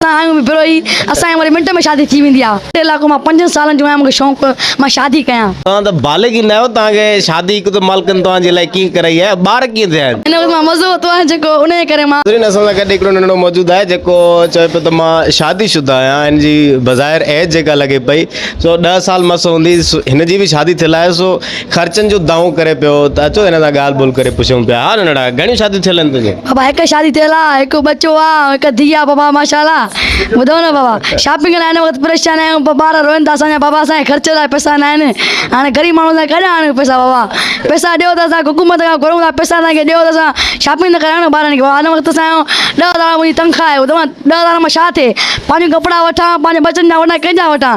اسان آهيون به بروهي، اسان جي وري منٽ ۾ شادي ٿي ويندي آهي. ٽي لاکون مان پنجن سالن جو آهيان مون کي شونق مان شادي ڪيان. توهان ته بالغ ئي نه آهيو توهان کي شادي هڪ ته مالڪن توهان جي لاء ڪيئن ڪرائي آهي ٻار ڪيئن ٿيا آهن. هن وقت مان مزو وتو آهي جيڪو ان جي ڪري مان. ناظرين اسان سان گڏ هڪڙو ننڍڙو موجود آهي جيڪو چوي پيو ته مان شادي شده آهيان هن جي بظاهر ايج جيڪا لڳي پئي سو ڏهه سال مس هوندي هن جي به شادي ٿيل آهي سو خرچن جو دانهون ڪري پيو ته اچو هن سان ڳالهه ٻولهه ڪري پڇون پيا ها ننڍڙا گهڻيون شاديون ٿيل آهن تنهنجون؟ بابا هڪ شادي ٿيل آ هڪ ٻچو آ هڪ ڌيء آ بابا ماشاءالله ٻڌو نه بابا شاپنگ لاء هن وقت پريشان آهيون ٻار روئن ٿا اسان جا بابا اسان کي خرچ لاء پئسا نه آهن هاڻي غريب ماڻهو اسان ڪاڏان آڻيون پئسا بابا پئسا ڏيو ته اسان حڪومت کان گهرون ٿا پئسا اسان کي ڏيو ته اسان شاپنگ ته ڪرايون نه ٻارن کي بابا هن وقت اسان جو ڏهه هزار منهنجي تنخواه آهي ٻڌو نه ڏهه هزار مان ڇا ٿئي پنهنجو ڪپڙا وٺان پنهنجي ٻچن جا وٺان ڪنهن جا وٺان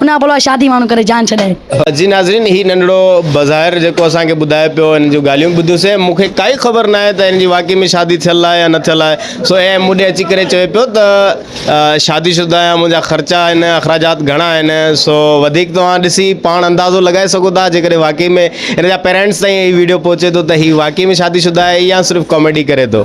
ان کان پوء شادي ماڻهو ڪري جان ڇڏائي. جي ناظرين هي ننڍڙو بظاهر جيڪو اسان کي ٻڌائي پيو هن جون ڳالهيون به ٻڌيوسين مون کي ڪائي خبر ناهي ته هن جي واقعي ۾ شادي ٿيل آهي يا نه ٿيل آهي سو هي مون ڏي اچي ڪري چوي پيو ته شادي شده آهيان منهنجا خرچا آهن اخراجات گهڻا آهن سو وڌيڪ توهان ڏسي پاڻ اندازو لڳائي سگهو ٿا جيڪڏهن واقعي ۾ هن جا پيرينٽس تائين هي ويڊيو پهچي ٿو ته هي واقعي ۾ شادي شده آهي يا صرف ڪاميڊي ڪري ٿو.